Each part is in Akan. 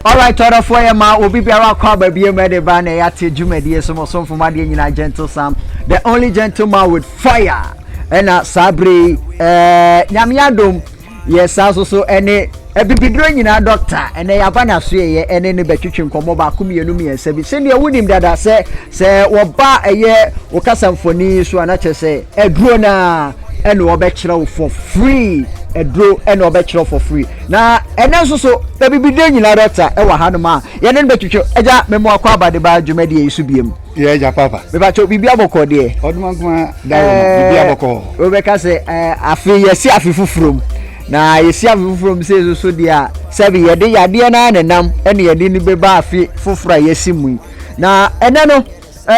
Alright, other for your ma will be biara kwa baby mede ba na ya te dwumadie so mo somfo ma deɛ nyina gentle sam the only gentleman with fire ɛna saa bere eh nyame adom yɛ saa nso so ɛne abibiduro nyinaa dɔkta ɛnɛ yɛaba n'asoɛeɛ ɛne no bɛtwetwe nkɔmmɔ baako mmienu mmiɛnsa bi sɛdeɛ wonim dada sɛ sɛ wɔba ɛyɛ wo kasa mfoni so a na kyerɛ sɛ aduro no a ɛne wɔbɛkyerɛ wo for free aduro ɛne wɔbɛkyerɛ wo for free na ɛnɛ nso so abibiduro nyinaa dɔkta ɛwɔ hanom a yɛne no bɛtwetwe agya mɛmoakɔ abadeba dwumadie yi so biemu Yɛ agya papa. Mepakyɛw biribi abɔkɔ deɛ. Ɔdoma nkuma da wɔ mu biribi abɔkɔ. Wobɛka sɛ afe yɛsi afe foforɔ mu na yɛsi afe foforɔ mu sɛ soso deɛ a sɛbi yɛde yadeɛ no ara na nam ɛna yɛde no bɛba afe foforɔ a yɛsi mu yi na ɛnɛ no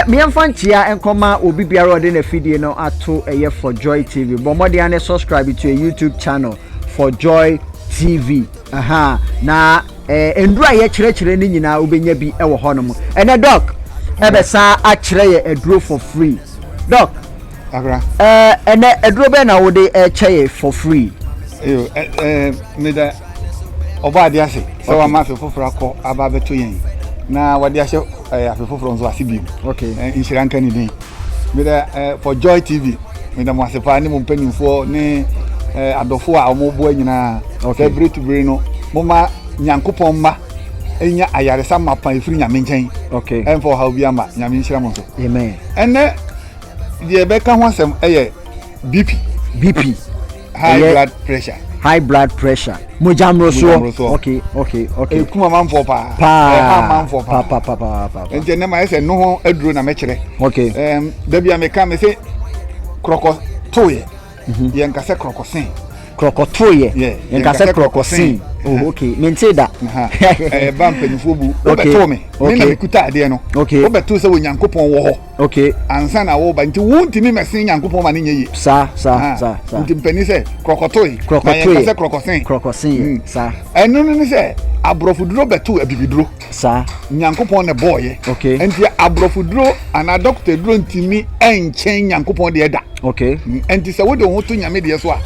mmeɛmfa nkyia nkɔma obi biara ɔde na fidie no ato ɛyɛ for joy tv bɔ mmɔden ne subscribe to a youtube channel for joy tv Ahaa na ɛɛ nnuro a yɛkyerɛkyerɛ no nyinaa wobɛnya bi wɔ hɔnom. Ɛnɛ dɔk ɛbɛsan akyerɛ yɛ aduro for free. Dɔk, ɛɛ ɛnɛ aduro bɛn na wode ɛkyɛ yɛ for free? Eyo ɛ ɛɛ meda ɔbɔ ade ase sɛ wama afe foforɔ akɔ aba abɛto yɛn na wɔde ahyɛ ɛɛ afe foforɔ nso ase bio. Okay. Nhyira nka ne din. Meda eh, for Joy TV. Meda mo ase paa ne mo mpanimfoɔ ne eh, adɔfoɔ a wɔboa nyinaa. Okay. Sɛ bere to bere no, moma Nyankopɔn mma nya ayaresa mapa ɛfiri Nyame nkyɛn. Okay. Ɛmfa ɔhaw bi ama. Nyame nhyira mo nso. Amen. Ɛnɛ, deɛ ɛbɛka ho asɛm ɛyɛ bp bp high blood pressure high blood pressure mogya mmorosoɔ okay okay okay ekum amanfoɔ paa paa ɛha amanfoɔ paa paa paa paa paa nti ɛnɛ ma yɛ sɛ noho aduro na mɛkyerɛ okay ɛɛm dabi a meka me se korɔkɔ toyɛ mhm. yɛn nkasɛ korɔkɔ sen korɔkɔ toyɛ yɛn nkasɛ korɔkɔ sen oh okay me nti da ɛɛ ba mpanyinfoɔ bu wobɛtoo me me na mekuta adeɛ no wobɛtoo sɛ onyankopɔn wɔ hɔ. Ok. Ansa na woreba, nti wontumi mɛsen Nyankopɔn ma no nyɛ yie. Saa, saa, Ah, saa, saa. nti mpanin sɛ krɔkɔtoe, na Krɔkɔtoeɛ. yɛnka sɛ krɔkɔsen. Krɔkɔseeɛ, Mm. saa. Ɛno no ne sɛ aborɔfoduro bɛtoo abibiduro. Saa. Nyankopɔn na ɛbɔɔyɛ. Ok. Nti aborɔfoduro anaa dɔkota duro ntumi nkyɛn Nyankopɔn deɛ da. Ok. Mm, Nti sɛ wode wo ho to Nyame deɛ so a,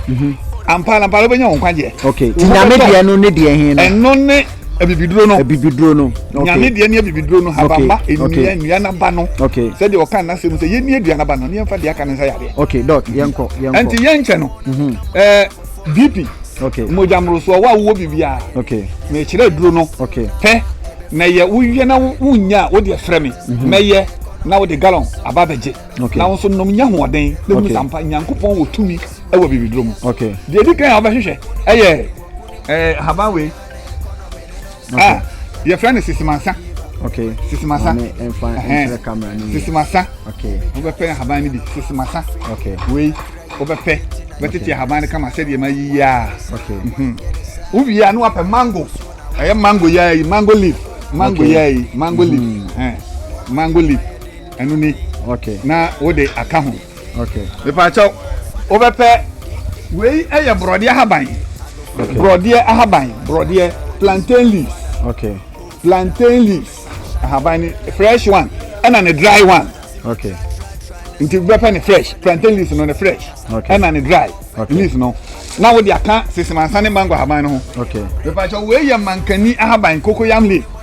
ampa ara ampa ara wobɛnya wo nkwagyeɛ. Ok. Wo Nti ho Nyame bɛtɔ wo. deɛ no ne deɛ he no? Ɛno ne abibiduro no abibiduro no nyame deɛ ne abibiduro no habama nnua nnua naba no sɛdeɛ ɔka n'asɛm sɛ yɛnni aduan naba no ne yɛmfa deɛ aka no nsa yadeɛ okay dɔk yɛnkɔ yɛnkɔ ɛnti yɛnkyɛ no mhm. ɛɛ bp okay mogya mmorosoɔ wo a wowɔ biribiara okay na ɛkyerɛ aduro no okay pɛ na yɛ woyɛ na wonya a wodeɛ frɛ me mhm. mɛyɛ na wode gallon aba bɛgye na wo nso nom nya hoɔden na hu sampa nyankopɔn wɔ tumi wɔ bibiduro mu deɛ ɛdi kan a wobɛhwehwɛ ɛyɛ haban wei ah yɛfrɛ no sisimasa okay sisimasa maame ɛnfa ɛnkyerɛ camera no sisimasa okay wobɛpɛ ahaban no bi sisimasa okay wei wobɛpɛ bɛtete ahaban no kama sɛdeɛ ma yiyi a okay mhm. wowie a ne wapɛ mango ɛyɛ mango yɛ yi mango leaf mango yɛ yi mango leaf mhm. mango leaf ɛno ni okay na wode aka ho mepaakyɛw wobɛpɛ wei ɛyɛ borɔdeɛ ahaban borɔdeɛ ahaban borɔdeɛ plantain leaves okay. plantain leaves ahaban ne fresh one ɛna ne dry one okay. nti wobɛpɛ ne fresh plantain leaves no ne fresh okay. ɛna ne dry okay. leaves no na wode aka sesemansa ne mango ahaban no ho okay. mepaakyɛw wei yɛ mankani ahaban cocoyam leaf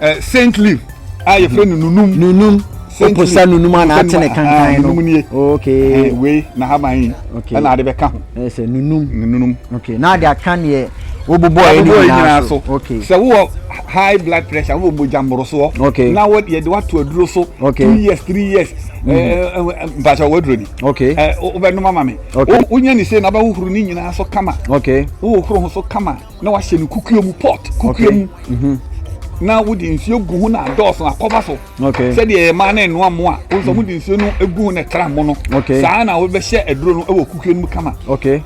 eh, saint leaf a yɛfrɛ no nunum nunum oposa nunum a n'ate ne kankan no nunum nie okay eh, wei na haban yi okay ɛna ade bɛka ho ɛsɛ nunum nunum okay na ade aka neɛ wobobɔ ɛni nyinaa so okay sɛ wowɔ high blood pressure wowɔ mogya mmorosoɔ okay na wɔ yɛde wato aduro so okay two years three years mpatsɛ ɔwɔ aduro ni okay wobɛnum ama mi wonya ne se na wobɛhohoro ne nyinaa so kama okay wohohoro ho so kama na wahyɛ no kukuo mu pot kukuo mu mhm. na wode nsuo gu ho na adɔɔso akɔba so sɛdeɛ ɛma no ɛnoa mo a wosɛ mhm. mode nsuo no gu ho na ɛtra mo no saa na wobɛhyɛ aduro no wɔ kukuo no mu kama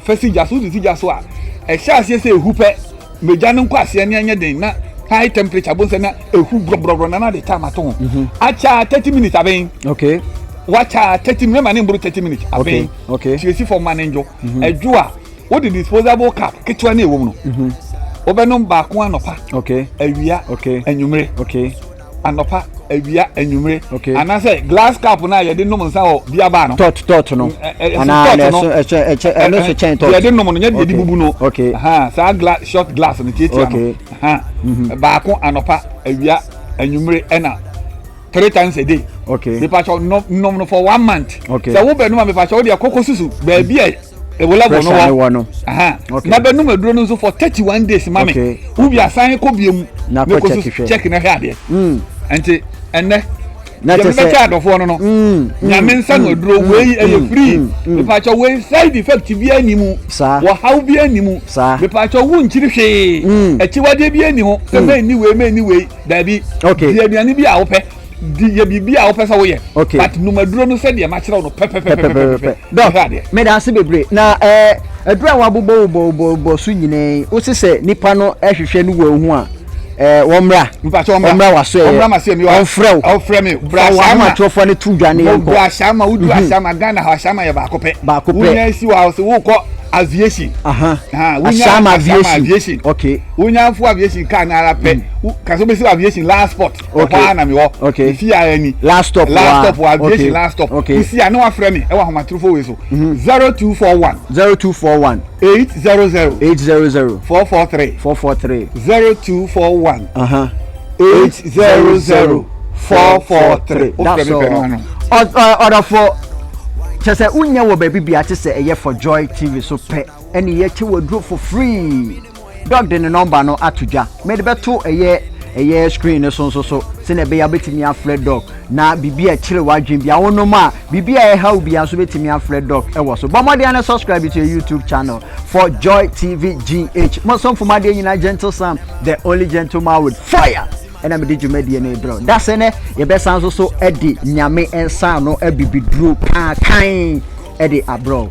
fa si gya so wode si gya so a ɛhyɛ aseɛ sɛ ɛhu pɛ magya no nkɔ aseɛ ne ɛnyɛ den na high temperature bo nsɛ na ɛhu brɔbrɔbrɔ na na de tam ato ho mhm. akyɛ thirty minutes abɛn wakyɛ thirty minutes ma ne mboro thirty minutes abɛn tiesi fam ma ne ndwo ɛdwo a wode disposable cup ketewa no ɛwom no mhm. wobɛnom baako anɔpa awia anwummere anɔpa awia anwummere anaasɛ glass cup no a yɛde nom nsa wɔ biaba no tɔt tɔt no anaa ɛso ɛkyɛ ɛkyɛ ɛno nso kyɛn tɔt yɛde nom no nyɛ deɛ de bubu no saa glass short glass no tiatia no mhm. baako anɔpa awia anwummere ɛna three times a day. okay mipatsɔ nom no for one month. okay sɛ wo bɛ num a mipatsɔ o deɛ koko susu baabi a ewu level no wɔ na bɛ num aduro no nso for thirty one days mami okay. ubi asan kɔ bie mu na kɔ susu check na hwɛ adeɛ hmm. nti ɛnɛ yɛn bɛ kyɛ adɔfoɔ no no hmm. Hmm. nyame nsa no aduro wei ɛyɛ free mipatsɔ wei side effect bi ɛni mu wɔhaw bi ɛni mu mipatsɔ wu nkyiri hwee akyiwadeɛ bi ɛni ho sɛ mɛ ni wei mɛ ni wei. dabi okay. di aduane bi a wopɛ di yɛ biribi a wopɛ sɛ woyɛ okay. but numaduro no sɛ deɛ makyerɛw no pɛpɛpɛpɛpɛpɛ dɔk meda ase bebree na ɛɛ eh, aduro a wabobɔ wobɔwobɔwobɔ so nyinaa yi wosi sɛ nipa no ɛhwehwɛ no wɔ ehu a ɛɛ eh, wɔmmra wɔmmra waso ɛyɛ wɔmfrɛ wo ɔfrɛ mi bra sama wɔamatofoɔ no to dwa ne yɛn kɔ bra sama wodu mhm. asama ghana hɔ asama yɛ baako pɛ baako pɛ wonya esi wɔ aviation. Uh-huh. Uh, Asam aviation. aviation. Okay. Wonya fo aviation car no ara pɛ, wo ka sɛ wobɛsi wɔ aviation last spot, ɛhɔ Okay. ara na me hɔ. Okay. Mefi ara ni. Last stop Last wa. stop wɔ aviation Okay. last stop. Okay. Wosi a na wafrɛ me ɛwɔ ahomatorofo wei so. 0241 0241 800 800 443 443 0241 Uh-huh. 800 443. Wofrɛ That's me pɛ no all. ano. Ɔ- ɔ- Ɔdɔfo, kyɛ sɛ wonyɛ wɔ baabi bia te sɛ ɛyɛ for joy tv so pɛ ɛne yɛte wɔ aduro for free Doug de ne nɔmba no ato dwa. Mede bɛto ɛyɛ ɛyɛ screen no so nso so sɛnea ɛbɛyɛ wobɛtumi afrɛ Doug na biribi a ɛkyere w'adwene bia wonom a biribi a ɛha wo bia nso wobɛtumi afrɛ Doug ɛwɔ so. Bɔ mmɔden ne subscribe to your YouTube channel for Joy TV GH. Mo somfo mu adeɛ nyinaa Gentle Sam, the only gentleman with fire ɛna mede dwumadie no brɛ da sɛ nɛ yɛbɛsan nso so de nyame nsa ano abibiduro paa kan ɛde abrɛ